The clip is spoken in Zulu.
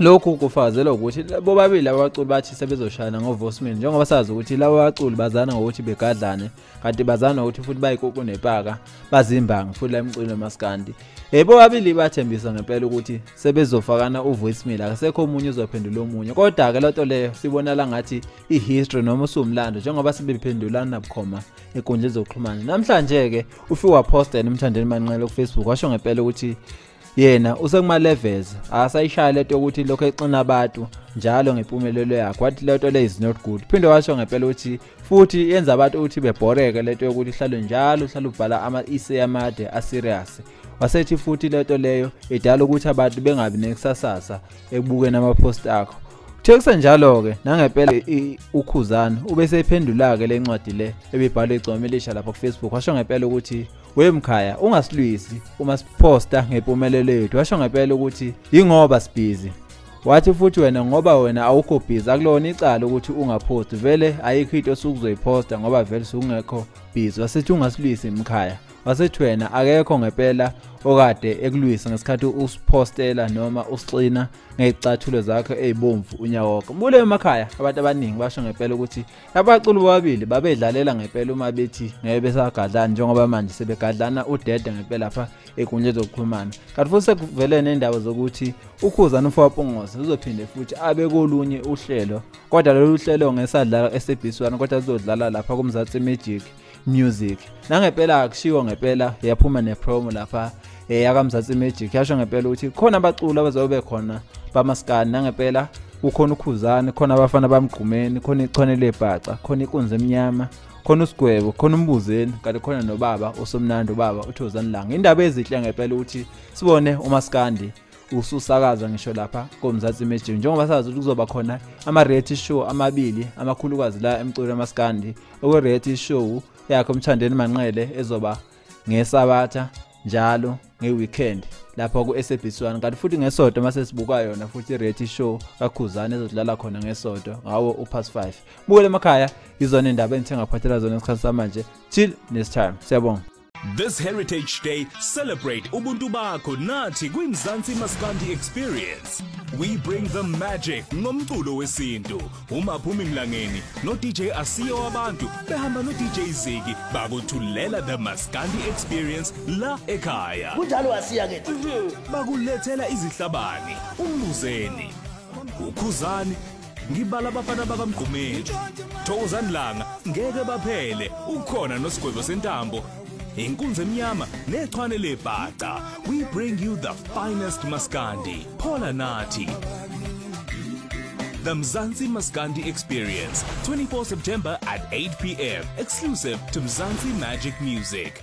Lokhu kufazelwa ukuthi bobabili abaculi bathi sebezoshayana ngoVosmin njengoba sazi ukuthi laba baculi bazana ngokuthi begadlane kanti bazana ukuthi futhi bayikuku nepaka bazimbangi futhi la mculo maskandi. Eh bobabili bathembisa ngempela ukuthi sebezofakana uVosmin akasekho omunye uzophendula omunye kodwa ke lento leyo sibona la ngathi ihistory noma usumlando njengoba sebephendulana bukhoma enkundleni zokuxhumana. Namhlanje ke ufiwa poster nomthandeni manqele ku Facebook washo ngempela ukuthi yena usekumaleves akasayishaya leto ukuthi lokho exina abantu njalo ngempumelelo yakhe wathi leto le is not good phinde washo ngempela ukuthi futhi yenza abantu ukuthi bebhoreke leto yokuthi ihlalo njalo uhlala ubhala ama-ise amade aserious wasethi futhi leto leyo idala ukuthi abantu bengabi nekusasasa ekubukeni amaphosti akho Kuthe kusenjalo-ke nangempela ukhuzana ubeseyiphendula-ke le ncwadi le ebibhalwe igcoma elisha lapha kufacebook washo ngempela ukuthi we mkhaya ungasilwisi uma siposta ngempumelelo yethu washo ngempela ukuthi yingoba sibhizi wathi futhi wena ngoba wena awukho busy akulona icala ukuthi ungapost vele ayikho into osukuzoyiposta ngoba vele sukungekho busy wasethi ungasilwisi mkhaya wasethi wena akekho ngempela okade ekulwisa ngesikhathi usipostela noma usixina ngezicathulo zakho ezibomvu unyawoko bule emakhaya abantu abaningi basho ngempela ukuthi Abaculi bobabili babedlalela ngempela uma bethi ngeke besagadlana njengoba manje sebegadlana udede ngempela pha egunya zokuxhumana. Kanti futhi sekuvele nendaba zokuthi ukhuza noFapongoza uzophinde futhi abe kolunye uhlelo. Kodwa lolu hlelo ngesadlala eSebhiswana kodwa uzodlala lapha kuMzansi Magic. music nangempela akushiwo ngempela yaphuma nepromo lapha eh yakamzansi magic yasho ngempela ukuthi khona abaculi abazobe khona bamaskani nangempela ukhona ukhuzane khona abafana bamgqumeni khona ichwane lebhaca khona inkunzi emnyama khona usigwebo khona umbuzeni kanti khona nobaba usomnandi ubaba uthozani langa indaba ezihle ngempela ukuthi sibone umaskandi ususakaza ngisho lapha komzansi imagine njengoba sazi ukuthi kuzoba khona ama-reality show amabili amakhulukazi la emculo yamaskandi okwe-reality show yakhe umthandeni manqele ezoba ngesabatha njalo nge-weekend lapha ku-sabc one kanti futhi ngesodo uma sesibuka yona futhi i-reality show kakhuzane ezodlala khona ngesodo ngawo upass five bukele emakhaya izona indaba engithengaphathela zona esikhathi samanje till next time siyabonga This Heritage Day, celebrate Ubuntu bakho nathi kwiMzansi Maskandi Experience. We bring the magic ngomculo wesintu. Uma phumi mlangeni no DJ Asiyo wabantu behamba no DJ Ziki bakuthulela the Maskandi Experience la ekhaya. Kunjalo asiya ke. Mhm. Bakulethela izihlabani, umbuzeni, ukhuzani ngibala abafana bakamgqumeni thokozani langa ngeke baphele ukhona nosigwebo sentambo inkunzi emnyama nechwane lebhaca we bring you the finest maskandi phola nathi The Mzansi Maskandi Experience, 24 September at 8 p.m. Exclusive to Mzansi Magic Music.